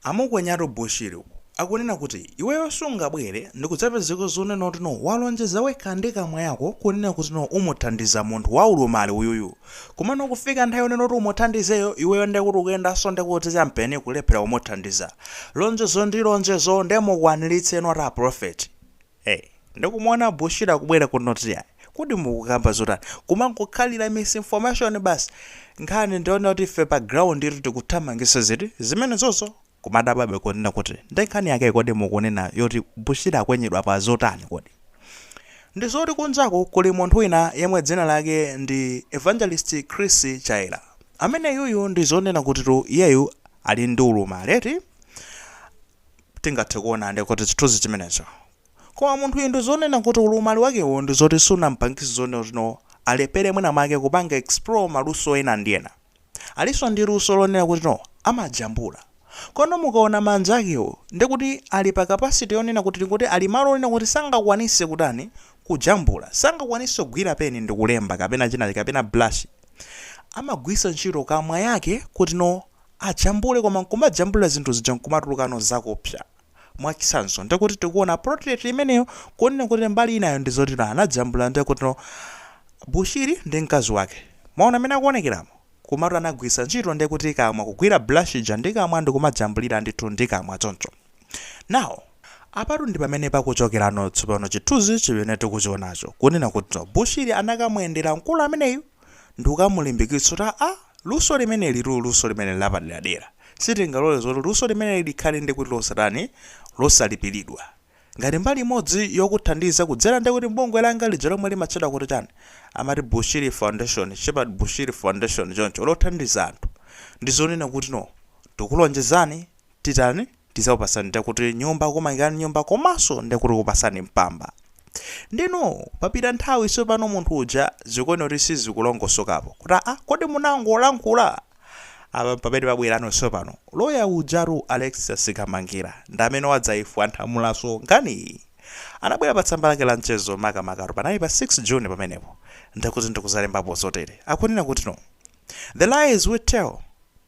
Amukwenyatu Bushiri akunena kuti iweyo sungabwere ndikudzapezeka zonena kuti no walonjeza wekha ndi kamwa yako kunena kuti no umuthandiza munthu wa ulumali uyuyu komano kufika nthawi yonena kuti umuthandizeyo iweyo ndekuti ukuyendanso ndikuti champeni kulephera kumuthandiza lonjezo ndi lonjezo nde mukwanilitseno atero a prophet ee ndikumuuza bushiri akubwera kunena kuti aa kodi mukukamba zotani kumangokhalira misinformation basi nkhani ndiyoona kuti ife pa ground itu tikuthamangisa ziti zimenezozo kumadabwabe kunena kuti ndi nkhani yake kodi mukunena yoti bushiri akwenyedwa pa zotani kodi ndizoti kunjaku kuli munthu wina yemwe dzina lake ndi evangelist chris chaira amene uyuyu ndizonena kutitu iyeyu ali ndi ulumali eti tingathe kuona ndi kuti chithunzi chimenecho. Koma munthuyu ndi zonena kuti ulumali wakewo ndi zoti sunamupangitse zonena kuti alephere mwina mwake kupanga explore maluso ena ndi ena. Alinso ndi luso lonena kuti no amajambula. Komano mukaona manja akewo ndi kuti ali pa capacity yonena kuti tingoti ali malo onena kuti sangakwanitse kutani kujambula. Sangakwanitse kugwira peni ndi kulemba kapena china kapena brush. Amagwiritsa ntchito kamwa yake kuti no ajambule koma nkumajambulila zinthu zija nkumatulukano zakupsa mwachisanzo ndekuti tikuona portrait imeneyo kunena kuti mbali inayo ndizoti no anajambula ndekuti no bushiri ndi mkazi wake mwaona mmene akuonekeramo komatu anagwiritsa ntchito ndekuti kamwa kugwira brush ija ndi kamwa ndikumajambulira ndithu ndi kamwa choncho now apatu ndi pamene pakuchokerano tsopano chithunzi chimene tikuchionacho kunena kuti no bushiri anakamuyendera mkulu ameneyu ndikukamulimbikitsa kuti aa luso limenelitu luso limeneli lapaderadera sitingalole zoti luso limeneli likhale ndekuti losatani losalipilidwa ngati mbali imodzi yokuthandiza kudzera ndekuti mbungwe langa lija lomwe limatchedwa kuti chani amati bushiri foundation shepherd bushiri foundation choncho lothandiza anthu ndizonena kuti no tikulonjezani kuti tizakupasani ndekuti nyumba kumangilani nyumba komaso ndekuti kupasani mpamba ndeno papita nthawi sopano munthu uja zikuoneka kuti sizikulongosokapo kuti aa kodi munangolankhula apa ndi pamene pabwelano sopano loya ujatu Alexious Kamangila ndamene wadzayifwanthamulaso nkhaniyi anabwela pa tsamba lake la mchezo makamakatu panali pa 6 June pamenepo ndekuti ndikuzalembapo zotele akunena kutino The lies we tell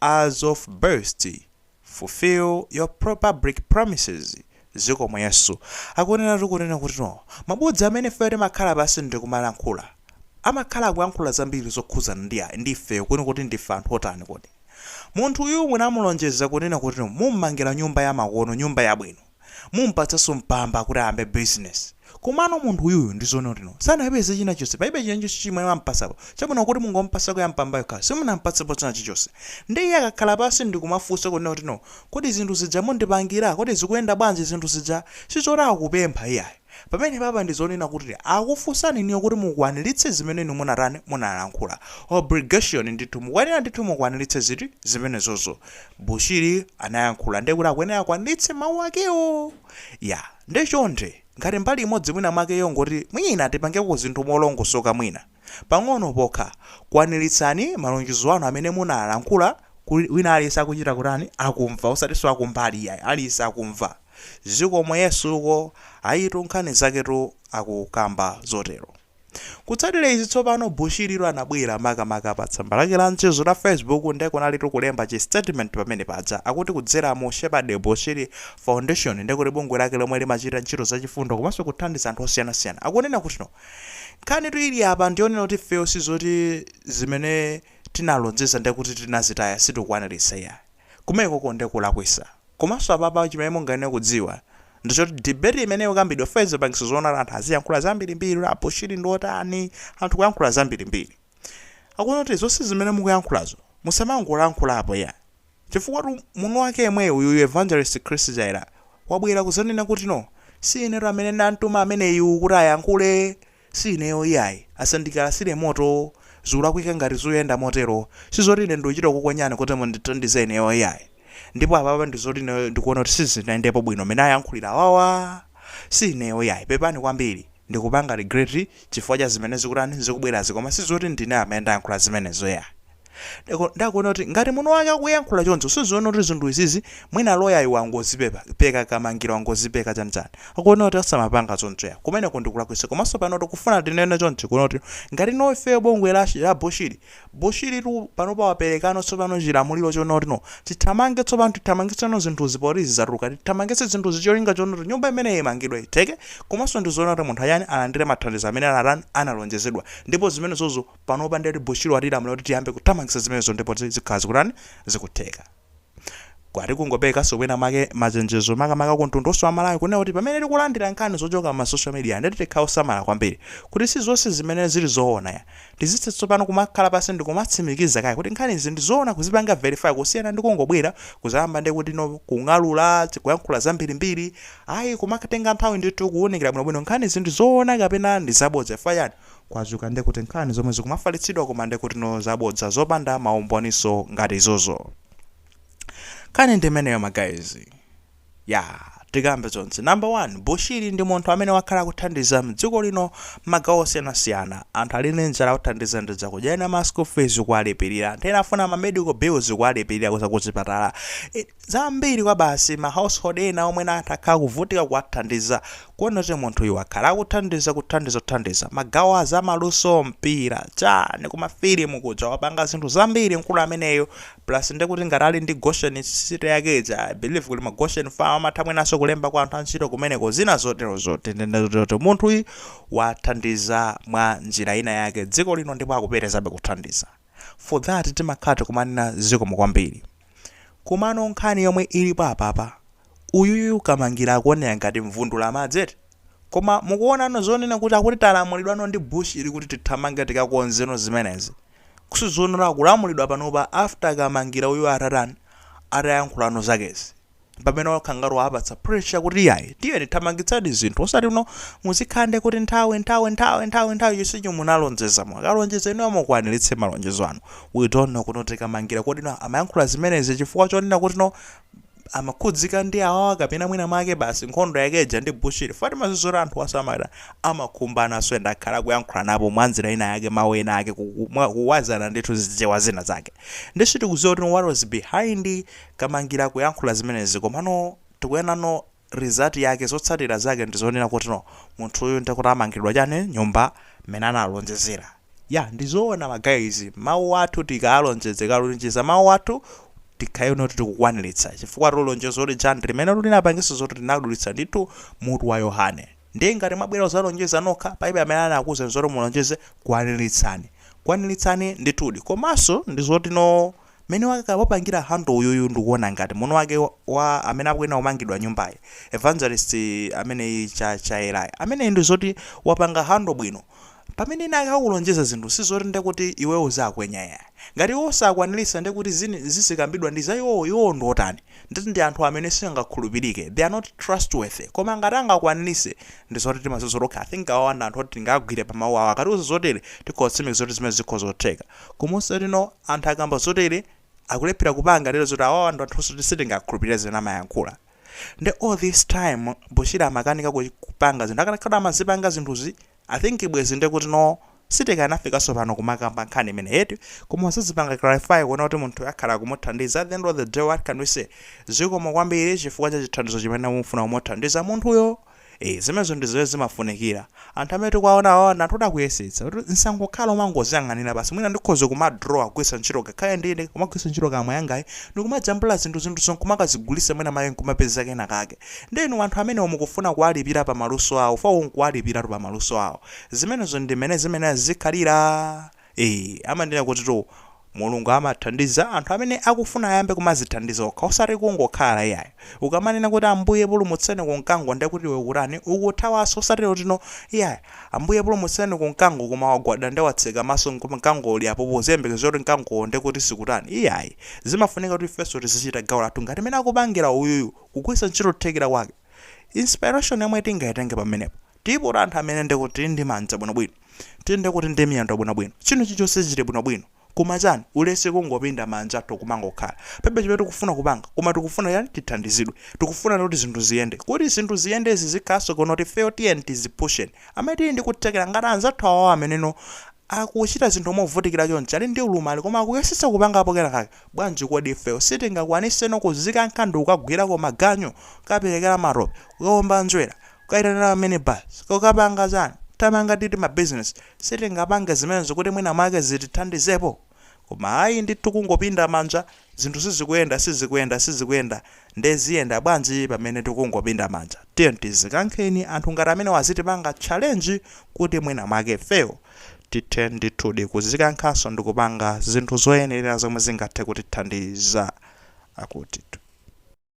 tell us about us fulfill your public promises zikomo yesu akuneneratu kunena kuti no mabodza amene ifeyo timakhala pansi ndikumalankhula amakhala akuyankhula zambiri zokhuzana ndi a ndi ifeyo eni kuti ndife anthu otani kodi munthu uyu munamulonjeza kunena kuti no mummangira nyumba yamakono nyumba yabwino Mumpatsanso mpamba kuti ayambe business. Komano munthu uyuyu ndi zonena kuti no. Sanapeze china chonse. Palibe china chonse chimwe mwampatsapo. Chabwino kuti mungompatsako ya mpamba yokhayo. Simunampatsepo china chilichonse. Nde iye akakhala pansi ndikumafunsa kunena kuti no. Kodi zinthu zija mundipangira? Kodi zikuyenda bwanji zinthu zija? Sizoti akupempha iyayi. Pamenepapa ndi zonena kuti akufunsani inuyo kuti mukwanilitse zimene inu munatani, munalankhula. Obligation ndithu, mukuyenera ndithu mukwanilitse ziti, zimenezozo. Bushiri anayankhula ndiye kuti akuyenera akwanilitse mawu akewo. Ya, ndiye chonde, ngati mbali imodzi mwina mwake yongoti mwina tipangeko zinthu molongosoka mwina, pang'ono pokha, kwanilitsani malonjezo anu amene munalankhula, kuti wina aliyense akuchita kutani, akumva, osatinso akumbali iyayi, aliyense akumva. Zikomo yesu uko, ayitu nkhani zaketu akukamba zotero. Kutsatira izi tsopano Bushiri tu anabwera makamaka pa tsamba lake la mchezo la Facebook nde kunalitu kulemba chi statement pamene paja akuti kudzera mu Shepherd Bushiri Foundation nde kuti bungwe lake lomwe limachita ntchito za chifundo komanso kuthandiza anthu osiyanasiyana akunena kuti no nkhanitu ili apa ndiyonena kuti ifeyo sizoti zimene tinalonjeza ndekuti tinazitaya sitikukwanilitsa iyayi kumenekoko nde kulakwisa Komanso apapa chimene mungayenere kudziwa ndi choti debate imene ikukambidwa ife zapangitsa zoona anthu aziyankhula zambirimbiri kuti a Bushiri ndi otani anthu kuyankhula zambirimbiri akunena kuti zonse zimene mukuyankhulazo musamangolankhulapo iyayi chifukwatu mwini wake yemweyu uyuyu Evangelist Chris Jaira wabwera kuzanena kuti no si inetu amene ndamtuma ameneyu kuti ayankhule Si ineyo iyayi, asandikalasire moto, zikulakwika ngati zuyenda motero, sizoti ine ndikuchita kukukwenyani kuti mundithandize ineyo iyayi, ndipo apapa ndizoti ndikuona kuti sizinayendepo bwino mmene ayankhulira awawa, si ineyo iyayi, pepani kwambiri, ndikupanga regret chifukwa cha zimene zikutani, zikubwerazi koma sizoti ndine amene ndayankhula zimenezo iyayi. Ndako- nde akunena kuti ngati mwini wake akuyankhula choncho sizoona kuti zinthu izizi mwina loyayu wangozipeka peka Kamangila wangozipeka chanchani akunena kuti asamapanga choncho ya kumeneko ndi kulakwisa komanso pano tikufuna tinene chonchi kunena kuti ngati no ifeyo bungwe la, la bushiri bushiri tu panopa waperekano tsopano chilamuliro chonena kuti no tithamange tsopano tithamangitseno zinthuzi poti izi zatuluka tithamangitse zinthuzi cholinga chonena kuti nyumba imeneyi imangidwe itheke komanso ndizonena kuti munthuyu atani alandire mathandizo amene anatani analonjezedwa ndipo zimenezozo panopa ndeti Bushiri watilamula kuti tiyambe kuthamangisa zimenezo ndipo zikhala zikutani zikutheka kwati kungoperekaso mwina mwake machenjezo makamaka ku mtundu onse wa Malawi kunena kuti pamene tikulandira nkhani zochoka ma social media ndeti tikhale osamala kwambiri kuti sizonse zimene zili zoona ya tizitha tsopano kumakhala pansi ndikumatsimikiza kaye kuti nkhani izi ndizoona kuzipanga verify kusiyana ndikungobwera kuzayamba ndekuti no kung'alula kuyankhula zambirimbiri ayi kumatenga nthawi ndithu kuunikira bwinobwino nkhanizi ndizoona kapena ndizabodza chifukwa chani Kwadzuka ndekuti nkhani zomwe zikumafalitsidwa koma ndekuti no zabodza zopanda ma umboniso ngati izozo. Nkhani ndi imeneyo ma guys. Yaa, tikambe zonse. Number one, Bushiri ndi munthu amene wakhala akuthandiza mdziko lino mmagawo osiyanasiyana. Anthu ali ndi njala awathandiza ndi zakudya, ena ma school fees kuwalipilira, anthu ena afuna ma medical bills kuwalipilira za kuchipatala. zambiri kwabasi ma household ena omwe anthu akhala akuvutika kuwathandiza kuona kuti munthuyu wakhala akuthandiza kuthandiza kuthandiza magawo azamaluso mpira chani kuma filimu kuja wapanga zinthu zambiri mkulu ameneyu plus nde kuti ngati ali ndi goshen city yake ija i believe kuli ma goshen farm amatha mwinanso kulemba kwa anthu antchito kumeneko zina zotero zoti munthuyu wathandiza mwa njira ina yake dziko lino ndipo akupitirizabe kuthandiza for that timakhala tikumanena zikomo kwambiri Komano nkhani yomwe ilipo apapa, uyuyu Kamangila akuoneka ngati mvundulamadzi eti? Koma mukuonano zonena kuti akuti talamulidwano ndi Bushiri kuti tithamange tikakonzeno zimenezi? Kudzaonano kulamulidwa panopa after Kamangila uyu atatani, atayankhulano zakezi. pamene wakhala ngati wawapatsa pressure kuti yayi tiyeni thamangitsani zinthu osati no muzikhande kuti nthawi nthawi nthawi nthawi nthawi chimene munalonjeza mwakalonjeza inuyo mukwaniritse malonjezo anu we don't know kuti Kamangila kuti no amayankhula zimenezi chifukwa chonena kuti no amakhudzika ndi awawa kapena mwina mwake basi nkhondo yakeja ndi bushiri paja timadziwa zoti anthu awa samata amakhumbanaso ndi akhala kuyankhulanapo mwanjira ina yake mawu ena ake kuku- mwa- kuwazana ndithu zichewa zina zake nde sitikudziwa kuti what was behind kamangila kuyankhula zimenezi komano tikuonano result yake zotsatira zake ndizonena kuti no munthuyu ndekuti amangiridwa chani nyumba mmene analonjezera yeah ndizoona ma guys mawu athu tikaalonjeze kalonjeza mawu athu tikhaleno kuti tikukwanilitsa chifukwatu lonjezo lija ndi limene linapangisa zoti linadulitsa ndithu mutu wa yohane ndiye ngati mwabwera kuzalonjeza nokha palibe amene anakuuzani zoti mulonjeze kwanilitsani kwanilitsani ndithudi komaso ndizoti no Mmene wa wapangira handle uyuyu ndikuona ngati mwana wake wa amene akuyenera kumangiridwa nyumbayi Evangelist ameneyi cha Shalayi ameneyi ndizoti wapanga handle bwino pamene ena ake akukulonjeza zinthu sizoti ndekuti iweo uzakwiya iya ngati iwowo sakwanilisa ndekuti zin zizikambidwa ndiza iwowo iwowo ndiotani nde ndi anthu amene sangakhulupilike they are not trustworthy koma ngati angakwanilise ndizoti timaziwa tokha I think awawa ndi anthu oti tingawagwire pamau awo akatiuza zotele tikhoza kutsimikiza zoti zimenezo zikhoza kutheka Komanso kuti no anthu akamba zotere akulephera kupanga deliver zoti awawa ndi anthu oti sitingakhulupirire zimene amayankhula nde all this time Bushiri amakanika kupanga zinthu akanakhala kuti amazipanga zinthuzi I think bwezi ndekuti no sitikanafikanso pano kumakamba nkhani imeneyi eti koma wazazipanga clarify kuona kuti munthuyo akhala akumuthandiza at the end of the day what can we say zikomo kwambiri chifukwa cha chithandizo chimene mufuna kumuthandiza munthuyo. Eee zimenezo ndi zimene zimafunikira. Anthu amene tikuwaonawa ndi anthu oti akuyesetsa. Kuti zisangokhala omangoziyang'anira basi. Mwina ndikhoza kumadrawa kugwiritsa ntchito ngakhale ndi ine kumagwiritsa ntchito kamwa yangayi ndi kumajambula zinthu, zinthuzo n'kumakazigulitsa mwina mwake n'kumapeza kena kake. Ndiye inu anthu amenewo mukufuna kuwalipira pa maluso awo, fwawuu kuwalipira pa maluso awo. Zimenezo ndi mmene zimayenera zizikhalira. Eee amanena kutitu Mulungu amathandiza anthu amene akufuna ayambe kumazithandiza okha osati kungokhala iyayi. Ukamanena kuti Ambuye pulumutseni ku mkango nde kuti iwe ukutani? Ukuthawanso osati kuti no iyayi Ambuye pulumutseni ku mkango koma wagwada nde watseka maso nkuti mkango uli apopo uziyembekeza kuti mkangowo nde kuti sikutani iyayi. Zimafunika kuti ifenso tizichita gawo lathu ngati mmene akupangira uyuyu kugwiritsa ntchito kuthekera kwake. Inspiration yomwe tingaitenge pamenepo. Ndipo anthu amene nde kuti tili ndi manja bwinobwino, tili nde kuti ndi miyendo bwinobwino, china chilichonse chili bwinobwino, koma chani, ulesi kungopinda manja tikumangokhala. Palibe chimene tikufuna kupanga, koma tikufuna chani, tithandizidwe. Tikufuna kuti zinthu ziyende. Kuti zinthu ziyende zizikhalanso bwino kuti ifeyo tiyeni tizipushen. Amene tili ndi kuthekera ngati anzathu awawa ameneno akuchita zinthu movutikira chonchi, ali ndi ulumali koma akuyesetsa kupangapo kena kake, bwanji kodi ifeyo sitingakwaniseno kuzikankha ndikukagwirako maganyu, kukaperekera matope, kukawumba njerwa, Kukaitanira mini bus kukapanga chani? Tamanga, titi ma business sitingapange zimenezo kuti mwina mwake zitithandizepo? Koma ayi ndithu kungopinda manja zinthu sizikuyenda sizikuyenda sizikuyenda nde ziyenda bwanji pamene tikungopinda manja? Tiyeni tizikankheni anthu ngati amenewa azitipanga challenge kuti mwina mwake ifeyo tithe ndithudi kuzikankhanso ndikupanga zinthu zoyenerera zomwe zingathe kutithandiza. Akutitu.